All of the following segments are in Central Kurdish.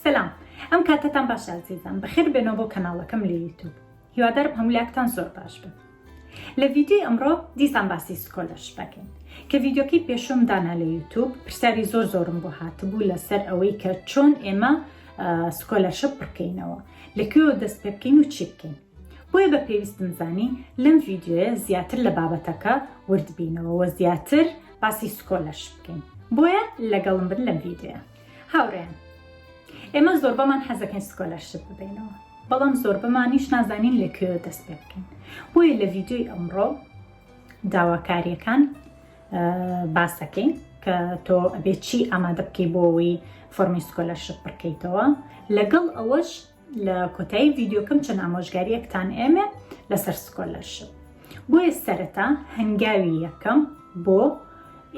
سلام ئەم کاتتان باش ئازیزان بەخێر بێنەوە بۆ کەناڵەکەم لە یوتوب هیوادارم هەمولاکتان زۆر باش بن لە ڤیددیوی ئەمڕۆ دیسان باسی سکۆلەرش بکەین کە ڤیددیوکەی پێشم دانا لە یوتوب پرسیاری زۆر زۆرم بۆ هاتبوو لەسەر ئەوەی کە چۆن ئێمە سکۆلەرشە بڕکەینەوە لەکوێوە دەست پێ بکەین و چی بکەین بۆیە بە پێویستم زانی لەم ڤیدیۆیە زیاتر لە بابەتەکە وردبینەوە وە زیاتر باسی سکۆلەرش بکەین بۆیە لەگەڵم بن لەم ڤیدیۆە هاوڕێن ئێمە زۆربەمان حەزەکەین سکۆلەرشت ببینەوە بەڵام زۆربەمانیش نازانین لەکوێ دەست پێ بکەین بۆیە لە ڤیددیوی ئەمڕۆ داواکاریەکان باسەکەین کە تۆ ئەبێ چی ئامادە بکەی بۆەوەی فۆرمی سکۆلەرشپ بکەیتەوە لەگەڵ ئەوەش لە کۆتایی ڤیددیوکەم چەند ئامۆژگاریەکتان ئێمە لەسەر سکۆلەرشپ بۆیە سەرەتا هەنگاوی یەکەم بۆ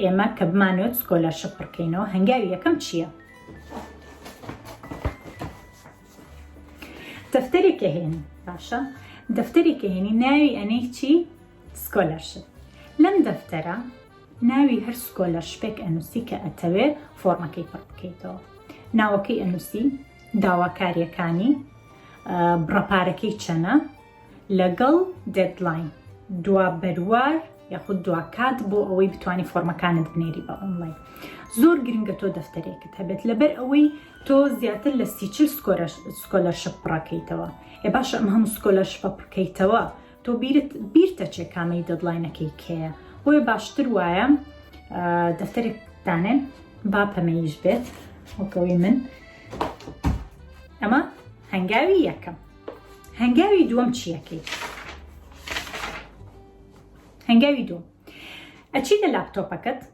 ئێمە کە بمانوێت سکۆلەرشپ بڕکەینەوە هەنگاوی یەکەم چییە؟ دەفتەرێکە هێنی باشە دەفتەرێکە هێنی ناوی ئەنەی چی سکۆلەرشپ لەم دەفتەرە ناوی هەر سکۆلەرشپێک ئەنووسی کە ئەتەوێت فۆرمەکەی پڕ بکەیتەوە ناوەکەی ئەنووسی داواکاریەکانی بڕە پارەکەی چەنە لەگەڵ دێدلاین دوا بەروار یاخود دوا کات بۆ ئەوەی بتانی فۆرمەکانت بنێری بە ئۆنلاین زۆر گرنگە تۆ دەفتەرێکت هەبێت لەبەر ئەوەی تۆ زیاتر لە سیچل سکۆلەرشپ پڕەکەیتەوە ئێ باشە ئەم هەموو سکۆلەرشپە پڕکەیتەوە تۆ بیرت بیرتەچێ کامەی دەدلاینەکەی کێیە بۆیە باشتر وایە دەفتەرێک دانێن با پەمەیش بێت وەکەوەی من ئەمە هەنگاوی یەکەم هەنگاوی دووەم چیەکەی هەنگاوی دوو ئەچی لە لاپتۆپەکەت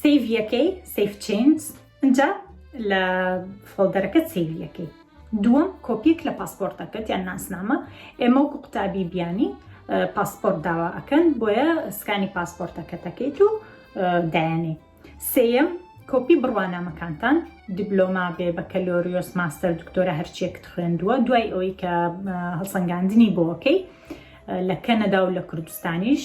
سیڤ یەکەی سیف چینز ئەجا لە فۆڵدەرەکەت سیڤ یەکەی دووەم کۆپیک لە پاسپۆرتەکەت یان ناسنامە ئێمە وکو قوتابی بیانی پاسپۆرت داوا ئەکەن بۆیە سکانی پاسپۆرتەکە دەکەیت و دایانی سێەم کۆپی بڕوانامەکانتان دیبلۆما بێ بە کەلۆریۆس ماستەر دکتۆرە هەرچێکت خوێندووە دوای ئەوەی کە هەڵسەنگاندنی بۆکەی لە کەنەدا و لە کوردستانیش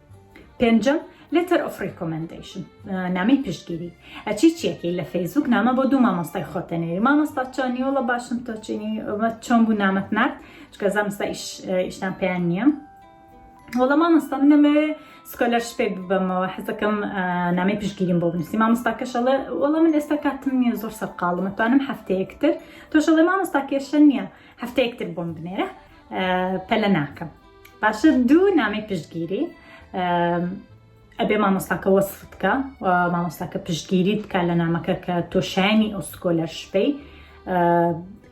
پێنجەم، Letter of Recommendation، نامەی پشتگیری ئەچی چیەکەی لە فەیسبوک نامە بۆ دوو مامۆستای خۆتەنێری مامۆستا چۆنی وڵە باشم تۆچینی چۆن بوو نامەت نرد چکە زانستا ئیشتان پێیان نییە وڵە مامۆستا منەمەوێ سکۆلەر شپێ ببەمەوە حەزەکەم نامی پشگیریم بۆ بنووسی مامۆستاکەشەڵێ وڵە من ئێستا کاتم نییە زۆر سەرقاڵمە توانم هەفتەیەکتر تۆشەڵێ مامۆستا کێشە نییە هەفتەیەکتر بۆم بنێرە پەلە ناکەم باشە دوو نامی پشتگیری ئەبێ مامۆستاکە وەصف بکە مامۆستاکە پشتگیری بکە لە نامەکە کە تۆشایانی ئەو سکۆلەر شپەی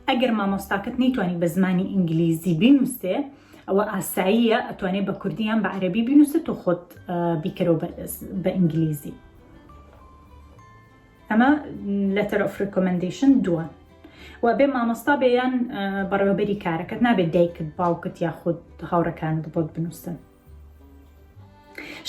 ئەگەر مامۆستاکەت نەیتوانی بە زمانی ئینگلیزی بینوستێ ئەوە ئاساییە ئەتوانێ بە کوردیان بە عەربی بینوسێت و خۆت بیکەرەوە بە ئینگلیزی ئەمە لەتەر ئۆف ڕیکۆمەندەیشن دووە و بێ مامۆستا بێ یان بەڕێوەبەری کارەکەت نابێت دایکت باوکت یاخود هاوڕەکانت بۆت بنووسن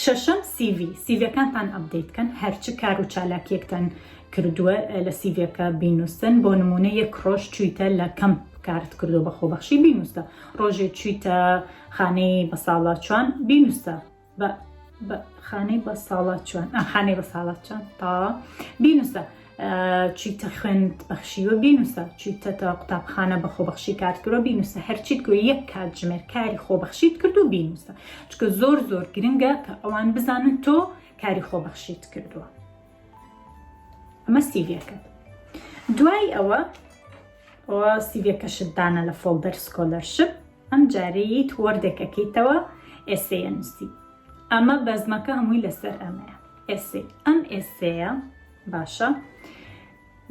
شەشەم سیV سیڤەکانتان ئەبدەیت کەن هەرچ کار و چالاکیەکتان کردووە لە سیڤەکە بینووسن بۆ نمونە یەک ڕۆژ چویتە لە کەم کارت کردو بە خۆبەخشی بینووسە ڕۆژێ چویتە خانەی بە ساڵاچوان بینووسە بە خانەی بە ساڵات چۆن ئەم خانەی بە ساڵات چۆن تا بینوسە چیتە خوێند بەخشیوە بینوسە چیتە تا قوتابخانە بە خۆبەخشی کارکرۆ بینوسە هەرچیت گوێ یەک کات ژمێر کاری خۆبەخشیت کرد و بینوسە چکە زۆر زۆر گرنگە کە ئەوان بزانن تۆ کاری خۆبەخشیت کردووە ئەمە سیڤەکە دوای ئەوە ئەوە سیڤەکەشت دانە لە فۆڵدەر سکۆلەرشپ ئەم جارەیت وەردەکەکەیتەوە ئێسەیە نووسی. ئەمە بەزمەکە هەمووی لەسەر ئەمەیە ئێسەی ئەم ئێسەیە باشە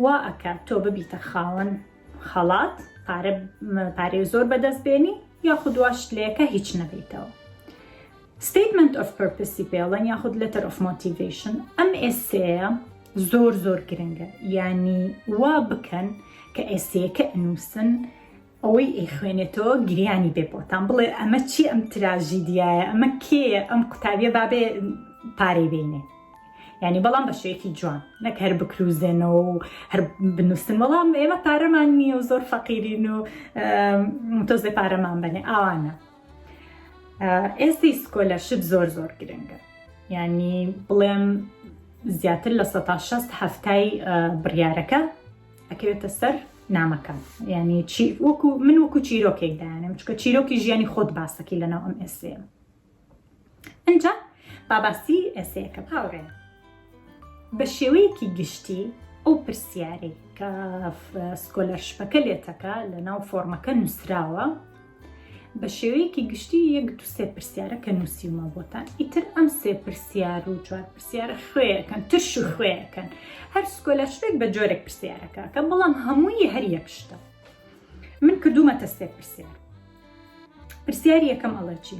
وا ئەکە تۆ ببیتە خاوەن خەڵات پارە پارێ زۆر بەدەست بێنی یاخود دواش لەکە هیچ نەبیتەوە ستیتمنت ئۆف پرپسی پێڵەن یاخود لەتەر ئۆف مۆتیڤشن ئەم ئێسەیە زۆر زۆر گرنگە ینی وا بکەن کە ئێسەیەکە ئەنووسن ئەوەی ئەیخوێنێتەوە گریانی بێ بۆتان بڵێ ئەمە چی ئەم تراژیدیایە ئەمە کێیە ئەم قوتابیە بابێ پارەی بینێ ینی بەڵام بە شێکی جوان نەک هەر بکروزێنەوە و هەر بنووسن بەڵام ئێمە پارەمان نییە و زۆر فەقیرین و تۆزێ پارەمان بەێ ئاوانە ئێستی سکۆلە شت زۆر زۆر گرنگە ینی بڵێم زیاتر لە 16 هەفتای بڕیارەکە ئەکەوێتە سەر نامەکە ینی چی وەکو من وەکو چیرۆکێک دایانم چکە چیرۆکی ژیانی خۆت باسەکی لەناو ئەم ئێسێ ئەجا باباسی ئێسەیەکە هاوڕێن بە شێوەیەکی گشتی ئەو پرسیارێک کە سکۆلەرشپەکە لێتەکە لە ناو فۆرمەکە نووسراوە بە شێوەیەکی گشتی یەک دو سێ پرسیارە کە نووسیومە بۆتان ئیتر ئەم سێ پرسیار و چوار پرسیارە خوێەکەن ترش و خوێەکەن هەر سکۆلە شتێک بە جۆرێک پرسیارەکە کە بەڵام هەمووی هەر یەک شتە من کردوومەتە سێ پرسیار پرسیاری یەکەم ئەڵەچی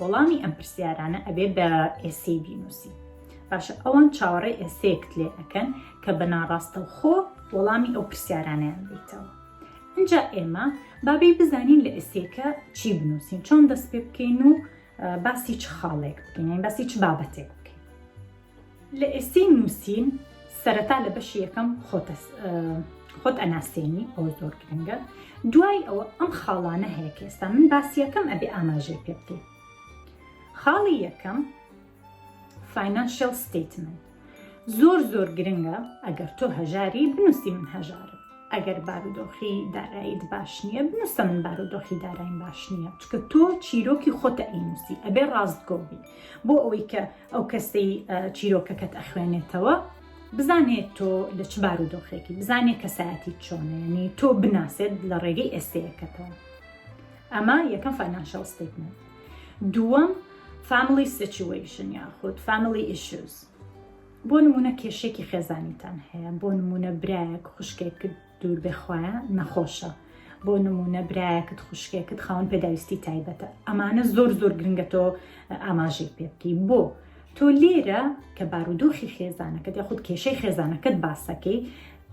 وەڵامی ئەم پرسیارانە ئەبێ بە ئێسەی بینوسی باشە ئەوان چاوەڕێ ئێسەیەکت لێ ئەەکەن کە بە ناڕاستەوخۆ وەڵامی ئەو پرسیارانیان بیتەوە اینجا ئێمە بابی بزانین لە ئێسێکە چی بنووسین چۆن دەست پێ بکەین و باسی چ خاڵێک بکەین باسی چ بابەتێک لە ئێستەی نووسین سەرەتا لە بەشی یەکەم خۆت ئەناسێنی ئەوە زۆر گرنگە دوای ئەوە ئەم خاڵانە هەیە کە ئێستا من باسی یەکەم ئەبێ ئاماژەی پێ بکەیت خاڵی یەکەم فینانشل ستیتمنت زۆر زۆر گرنگە ئەگەر تۆ هەژاری بنووسی من هەژارم ئەگەر بارودۆخی داراییت باش نییە بنووسە من بارودۆخی دارایم باش نییە چکە تۆ چیرۆکی خۆتە ئەینوسی ئەبێ ڕاستگۆبی بۆ ئەوەی کە ئەو کەسەی چیرۆکەکەت ئەخوێنێتەوە بزانێت تۆ لە چ بار و دۆخێکی بزانێت کەسایەتی چۆنێنی تۆ بناسێت لە ڕێگەی ئێستەیەکەتەوە ئەمە یەکەم فەناشەڵ ستیتمنت دووەم فامیلی سچویشن یاخود فامیلی ئیشوز بۆ نمونە کێشێکی خێزانیتان هەیە بۆ نمونە برایەک خوشکێک دوور بێ خوایە نەخۆشە بۆ نمونە برایەکت خوشکێکت خاون پێداویستی تایبەتە ئەمانە زۆر زۆر گرنگە تۆ ئاماژێک پێ بکەی بۆ تۆ لێرە کە بارودۆخی خێزانەکەت یاخود کێشەی خێزانەکەت باسەکەی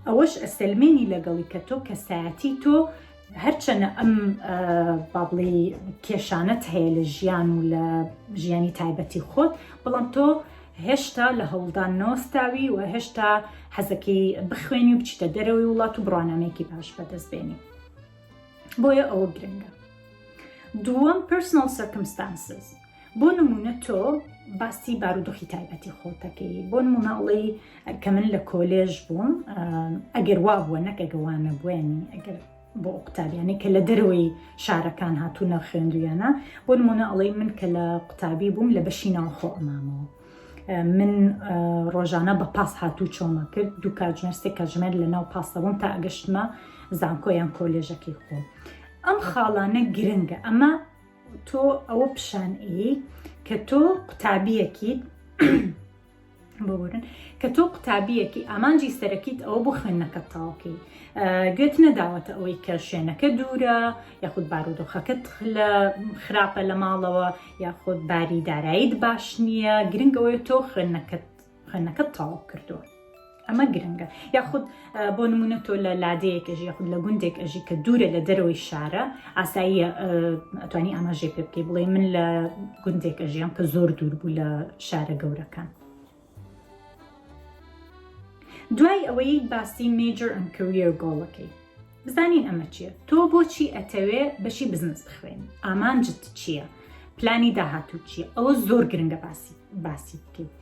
ئەوەش ئەسلمێنی لەگەڵی کە تۆ کەسایەتی تۆ هەرچەنە ئەم بابڵی کێشانەت هەیە لە ژیان و لە ژیانی تایبەتی خۆت بەڵام تۆ هێشتا لە هەوڵدان نەوەستاوی و هێشتا حەزەکەی بخوێنی و بچیتە دەرەوەی وڵات و بڕانامێکی باش بەدەست بێنی بۆیە ئەوە گرنگە دووەم پرسنل سەرکمستانسز بۆ نمونە تۆ باسی بارودۆخی تایبەتی خۆتەکەی بۆ نمونە ئەڵی کە من لە کۆلێژ بووم ئەگەر وا بووە نەکە گەوانە بوێنی ئەگەر بۆ ئەو قوتابیانەی کە لە دەرەوەی شارەکان هاتوونە خوێندویانە بۆ نمونە ئەڵەی من کە لە قوتابی بووم لە بەشی ناوخۆ ئەمامەوە من ڕۆژانە بە پاس هاتوو چۆمە کرد دوو کاژمێرسێک کاژمێر لە ناو پاسەبووم تا ئەگەشتمە زانکۆیان کۆلێژەکەی خۆ ئەم خاڵانە گرنگە ئەمە تۆ ئەوە پیشان ئی کە تۆ قوتابیەکیت ببورن کە تۆ قوتابیەکی ئامانجی سەرەکیت ئەوە بۆ خوێندنەکە تاوکەی گوێت نەداوەتە ئەوەی کە شوێنەکە دوورە یاخود بارودۆخەکەت لە خراپە لە ماڵەوە یاخود باری دارایت باش نییە گرنگەوەی تۆ خوێندنەکەت خوێندنەکەت تاو کردووە. ئەمە گرنگە یاخود بۆ نمونە تۆ لە لادەیەک ئەژی یاخود لە گوندێک ئەژی کە دوورە لە دەرەوەی شارە ئاساییە ئەتوانی ئاماژێ پێ بکەی بڵێ من لە گوندێک ئەژیان کە زۆر دوور بوو لە شارە گەورەکان. دوای ئەوەی باسی میجر ئەم کەویەر گۆڵەکەی بزانین ئەمە چییە تۆ بۆچی ئەتەوێ بەشی بزنس بخوێن ئامانجت چییە؟ پلانی داهاتوو چییە ئەوە زۆر گرنگە باسی باسی بکەیت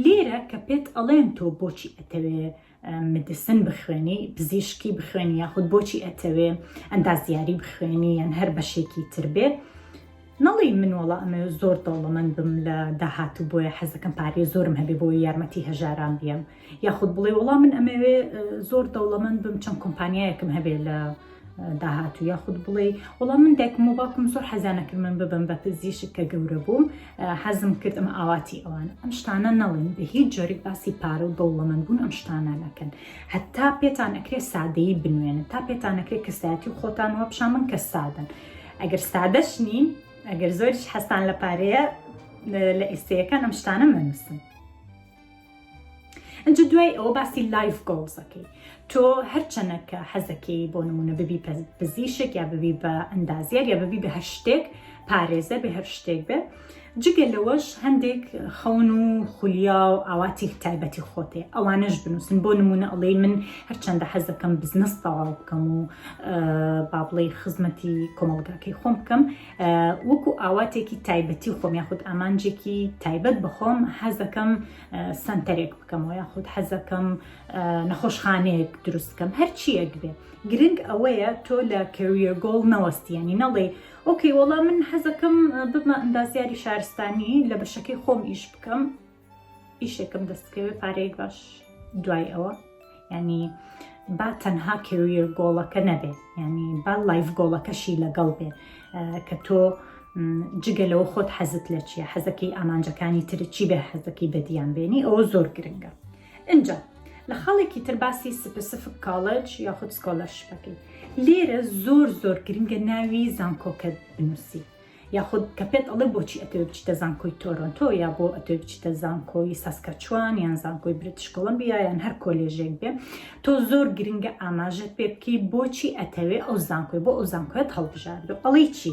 لێرە کە پێت ئەڵێن تۆ بۆچی ئەتەوێ مدسن بخوێنی پزیشکی بخوێنی یاخود بۆچی ئەتەوێ ئەندازیاری بخوێنی یان هەر بەشێکی تر بێت نەڵی من وڵا ئەمە زۆر دەوڵەمەند بم لە داهات و بۆیە حەزەکەم پارێ زۆرم هەبێ بۆ یارمەتی هەژاران بیم یاخود بڵێ وڵا من ئەمەوێ زۆر دەوڵەمەند بم چەند کۆمپانیایەکم هەبێ لە داهاتوو یاخود بڵێ وڵام من دایکم و باکم زۆر حەزانەکرد من ببم بە پزیشک کە گەورە بووم حەزم کرد ئەمە ئاواتی ئەوان ئەم شتانە نەڵێن بە هیچ جۆرێک باسی پارە و دەوڵەمەند بوون ئەم شتانە نەکەن هەتا پێتان ئەکرێ سادەیی بنوێنە تا پێتانەکرێت کەسایەتی و خۆتان وە پیشان من کە سادن ئەگەر سادەش نین ئەگەر زۆریش حەستان لە پارەیە لە ئێستەیەکان ئەم شتانە مەنووسن ئەجا دوای ئەوە باسی لایف گۆڵزەکەی تۆ هەرچەنەکە حەزەکەی بۆ نمونە ببی پزیشک یا ببی بە ئەندازیار یا ببی بە هەر شتێک پارێزە بە هەر شتێک بێ جگە لەوەش هەندێک خەون و خولیا و ئاواتی تایبەتی خۆتێ ئەوانەش بنووسن بۆ نمونە ئەڵێ من هەرچەندە حەزەکەم بزنس تەواو بکەم و بابڵی خزمەتی کۆمەڵگاکەی خۆم بکەم وەکو ئاواتێکی تایبەتی خۆم یاخود ئامانجێکی تایبەت بخۆم حەزەکەم سنتەرێک بکەمەوە یاخود حەزەکەم نەخۆشخانەیەک دروستکەم هەرچیەک بێ گرنگ ئەوەیە تۆ لە کەویە گۆڵ نەوەستیانی نەڵێ ئۆکەی وەڵام من حەزەکەم ببمە ئەندازیاری شارستانی لە بەشەکەی خۆم ئیش بکەم ئیشێکم دەستکەوێ پارەیەک باش دوای ئەوە ینی با تەنها کێویە گۆڵەکە نەبێ ینی با لایف گۆڵەکەشی لەگەڵ بێ کە تۆ جگە لەوە خۆت حەزت لە چیە حەزەکەی ئامانجەکانی تر چی بێ حەزەکەی بەدیان بێنی ئەوە زۆر گرنگە ئەجا لە خاڵێکی تر باسی سپسفک کاڵج یاخود سکۆلەرشپەکەی لێرە زۆر زۆر گرنگە ناوی زانکۆکە بنووسی یاخود کە پێت ئەڵێ بۆچی ئەتەوێ بچیتە زانکۆی تۆرۆنتۆ یا بۆ ئەتەوێ بچیتە زانکۆی ساسکەچوان یان زانکۆی برتش کۆڵمبیا یان هەر کۆلێژێک بێ تۆ زۆر گرنگە ئاماژەت پێ بکەی بۆچی ئەتەوێ ئەو زانکۆی بۆ ئەو زانکۆت هەڵبژاردو ئەڵی چی؟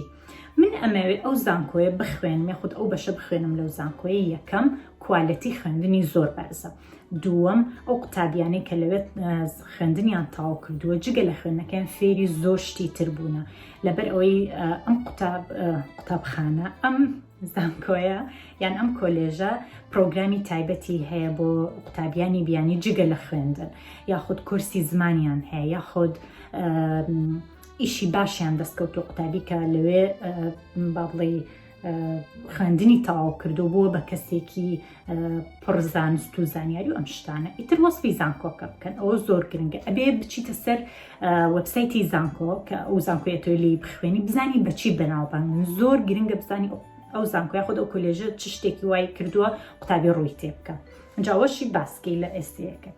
من ئەمەوێ ئەو زانکۆیە بخوێنم یاخود ئەو بەشە بخوێنم لەو زانکۆیە یەکەم کوالەتی خوێندنی زۆر بەرزە دووەم ئەو قوتابیانەی کە لەوێت خوێندنیان تاو کردووە جگە لە خوێندنەکەیان فێری زۆر شتی تر بوونە لەبەر ئەوەی ئەم قوتاب قوتابخانە ئەم زانکۆیە یان ئەم کۆلێژە پرۆگرامی تایبەتی هەیە بۆ قوتابیانی بیانی جگە لە خوێندن یاخود کورسی زمانیان هەیە یاخود ئیشی باشیان دەستکەوت و قوتابی کە لەوێ بابڵی خوێندنی تەواو کردو بووە بە کەسێکی پڕزانست و زانیاری و ئەم شتانە ئیتر وەسفی زانکۆکە بکەن ئەوە زۆر گرنگە ئەبێ بچیتە سەر وەبسایتی زانکۆ کە ئەو زانکۆی ئەتۆی لی بخوێنی بزانی بەچی بەناوبان من زۆر گرنگە بزانی ئەو زانکۆی خۆ ئەو کۆلێژە چ شتێکی وای کردووە قوتابی ڕووی تێ بکە جاوەشی باسکەی لە ئێستەکەت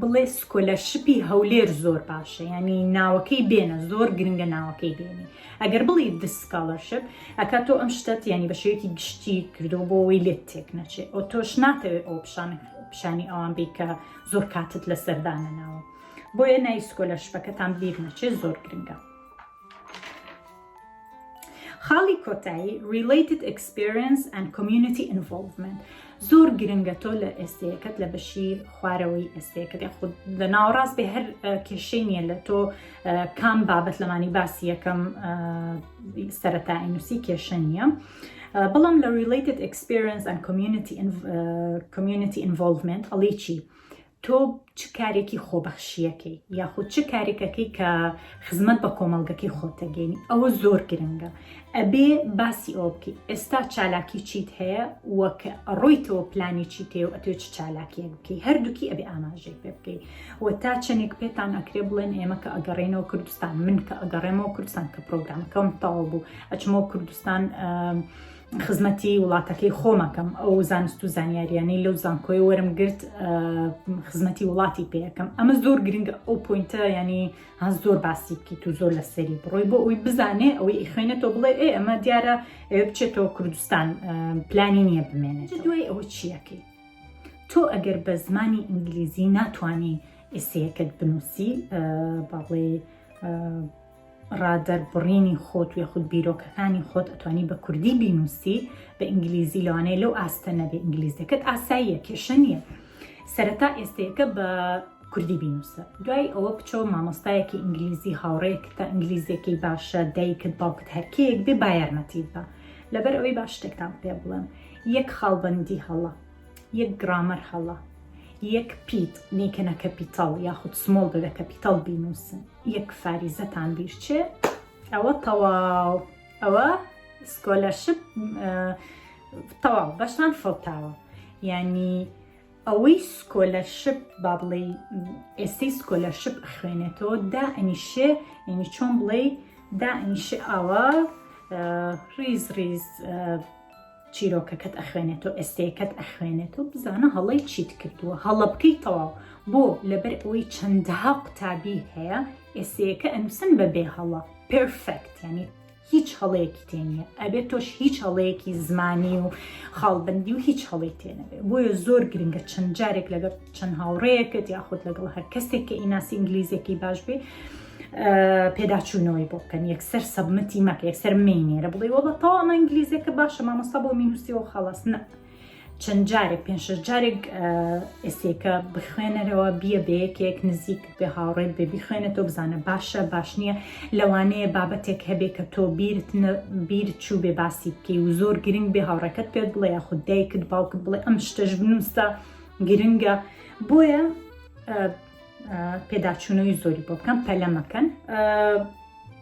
بڵێ سکۆلەر شپی هەولێر زۆر باشە یعنی ناوەکەی بێنە زۆر گرنگە ناوەکەی بێنی ئەگەر بڵی دسکالەرشپ ئەکا تۆ ئەم شتەت ینی بە شێوەیەکی گشتی کردو بۆ ئەوەی لێت تێک نەچێت ئەو تۆش ناتەوێت ئەو پیشان پیشانی ئەوان بی کە زۆر کاتت لە سەردانە ناوە بۆیە نایسکۆلەرشپەکەتان بیر نەچێت زۆر گرنگە خاڵی کۆتایی Related Experience and Community Involvement زۆر گرنگە تۆ لە ئێستەیەکەت لە بەشی خوارەوەی ئێستەیەکەت خود لە ناوەڕاست بێ هەر کێشەی نییە لە تۆ کام بابەت لەمانی باسی یەکەم سەرەتا ئینوسی کێشە نییە. بەڵام لە Related Experience and Community Community Involvement ئەڵی چی؟ تۆ چ کارێکی خۆبەخشییەکەی یاخود چ کارێکەکەی کە خزمەت بە کۆمەڵگەکەی خۆتەگەێنی ئەوە زۆر گرنگە ئەبێ باسی ئەو بکە ئێستا چالاکی چیت هەیە وەک ڕۆیتەوە پلانی چی تێ و ئەتێ چ چالاکیە بکەی هەردووکی ئەبێ ئاماژەی پێ بکەی و تا چەندێک پێتان ئەکرێ بڵێن ئێمە کە ئەگەڕێنەوە کوردستان من کە ئەگەڕێمەوە کوردستان کە پرۆگرامەکەم تاو بوو ئەچمەوە کوردستان خزمەتی وڵاتەکەی خۆمەکەم ئەو زانست و زانیاریانەی لەو زانکۆی وەرم گرت خزمەتی وڵاتی پێەکەم ئەمە زۆر گرنگە ئەو پوینتە ینی هەز زۆر باسی بکەیت و زۆر لەسەری بڕۆی بۆ ئەوی بزانێ ئەوەی خوێنێتەوە بڵێ ئێ ئەمە دیارە ئەوێ بچێتەوە کوردستان پلانی نییە بمێنێت دوای ئەوە چیەکەی تۆ ئەگەر بە زمانی ئینگلیزی ناتانی ئسیەکەت بنووسی باڵێ ڕا دەربڕینی خۆت و یاخود بیرۆکەکانی خۆت ئەتوانی بە کوردی بینوسی بە ئینگلیزی لەوانەیە لەو ئاستە نەبێ ئینگلیزیەکەت ئاساییە کێشە نییە سەرەتا ئێستەیەکە بە کوردی بینوسە دوای ئەوە بچەوە مامۆستایەکی ئینگلیزی هاوڕێک تا ئینگلیزیەکەی باشە دایکت باوکت هەرکیەک بێ بایەرمەتیت بە لەبەر ئەوەی باش شتێکتان پێ بڵێم یەک خاڵبندی هەڵە یەک گرامەر هەڵە یەک پیت نیکەنە کەپیتاڵ یاخود سمۆڵ بەبێ کەپیتاڵ بینوسن یەک فاریزەتان بیرچێ ئەوە تەواو ئەوە سکۆلەرشپ تەواو بەشتان فەوتاوە ینی ئەوەی سکۆلەرشپ با بڵێ ئێستی سکۆلەرشپ خوێنێتەوە دا ئەنیشێ ینی چۆن بڵێ دا ئەنیشێ ئاوا ریز ریز چیرۆکەکەت ئەخوێنێتەوە ئێستەیەکەت ئەخوێنێتەوە بزانە هەڵەی چیت کردووە هەڵە بکەی تەواو بۆ لەبەر ئەوەی چەندەها قوتابی هەیە ئێستەیەکە ئەنووسن بە بێ هەڵە پرفەکت یعنی هیچ هەڵەیەکی تێ نییە ئەبێت تۆش هیچ هەڵەیەکی زمانی و خاڵبندی و هیچ هەڵی تێنەبێت بۆیە زۆر گرنگە چەند جارێک لەگەڵ چەند هاوڕەیەکت یاخود لەگەڵ هەر کەسێک کە ئیناسی ئینگلیزیەکەی باش بێ پێداچوونەوەی بۆ بکەن یەکسەر سەبمەتی مەکە یەکسەر مینێرە بڵێ وە بە تەوا ئەمە ئینگلیزیەکە باشە مامۆستا بۆ مینوسیەوە خەڵاس نە چەند جارێک پێنج جارێک ئێسێکە بخوێنەرەوە بیە بە یەکێک نزیک بێ هاوڕێت بێ بیخوێنە تۆ بزانە باشە باش نییە لەوانەیە بابەتێک هەبێ کە تۆ بیرت بیر چوو بێ باسی بکەی و زۆر گرنگ بێ هاوڕێکەت پێت بڵێ یاخود دایکت باوکت بڵێ ئەم شتەش بنووسە گرنگە بۆیە پێداچوونەوەی زۆری بۆ بکەم پەلەمەکەن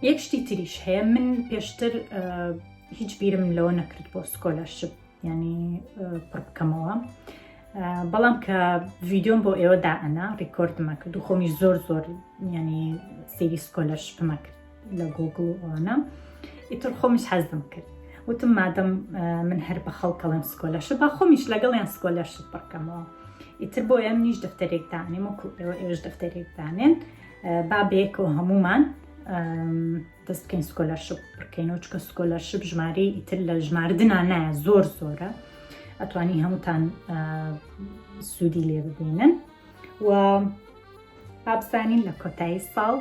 یەک شتی تریش هەیە من پێشتر هیچ بیرم لەوە نەکرد بۆ سکۆلەرشپ ینی پڕ بکەمەوە بەڵام کە ڤیددیۆم بۆ ئێوەدا ئەنا ڕیکۆردمە کرد و خۆمی زۆر زۆر ینی سری سکۆلەرشپمە کرد لە گۆگڵ و ئەوانە ئیتر خۆمیش حەزم کرد وتم مادەم من هەر بە خەڵکەڵێم سکۆلەش با خۆمیش لەگەڵیان سکۆلەش بڕکەمەوە ئیتر بۆ ئەم نیش دەفتەرێک دانێم وەکو ئێوە ئێوش دەفتەرێک دانێن با بەیەکەوە هەمومان دەست بکەین سکۆلەرشپ بکەین و چکە سکۆلەرشپ ژماری ئیتر لە ژماردنا نایە زۆر زۆرە ئەتوانی هەمووتان سوودی لێ ببینن و ئابزانین لە کۆتایی ساڵ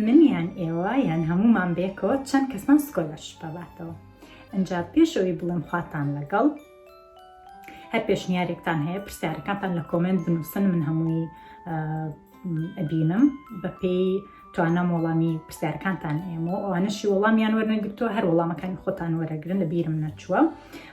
منیان ئێوە یان هەمومان بێکەوە چەند کەسمان سکۆلەر شپەباتەوە ئەجا پێشەوەی بڵم خواتان لەگەڵ هەر پێشنیارێکتان هەیە پرسیارەکانتان لە کۆمنت بنووسن من هەمووی ئەبینم بەپێی توانم وەڵامی پرسیارکانتان ئێمە و ئەوانەشی وەڵامیان وەرنەگرتووە هەر وەڵامەکانی خۆتان وەرەگرن لە بیرم نەچووە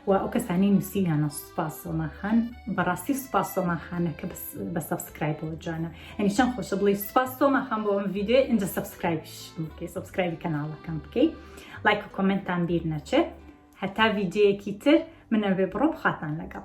و ئەو کەسانی نووسیانە سوپاس سۆماخان بەڕاستی سوپاس سۆماخانە کە بە سەبسکرایب بۆ جوانە ئەنی چەند خۆشە بڵی سوپاس سۆماخان بۆ ئەم ویددیو ئەجا سەبسکرایبش بکەی سەبسکرایبی کەناڵەکەم بکەی لایک و کۆمنتان بیر نەچێت هەتا ویددیوەکی تر منەوێ بڕۆ بخاتان لەگەڵ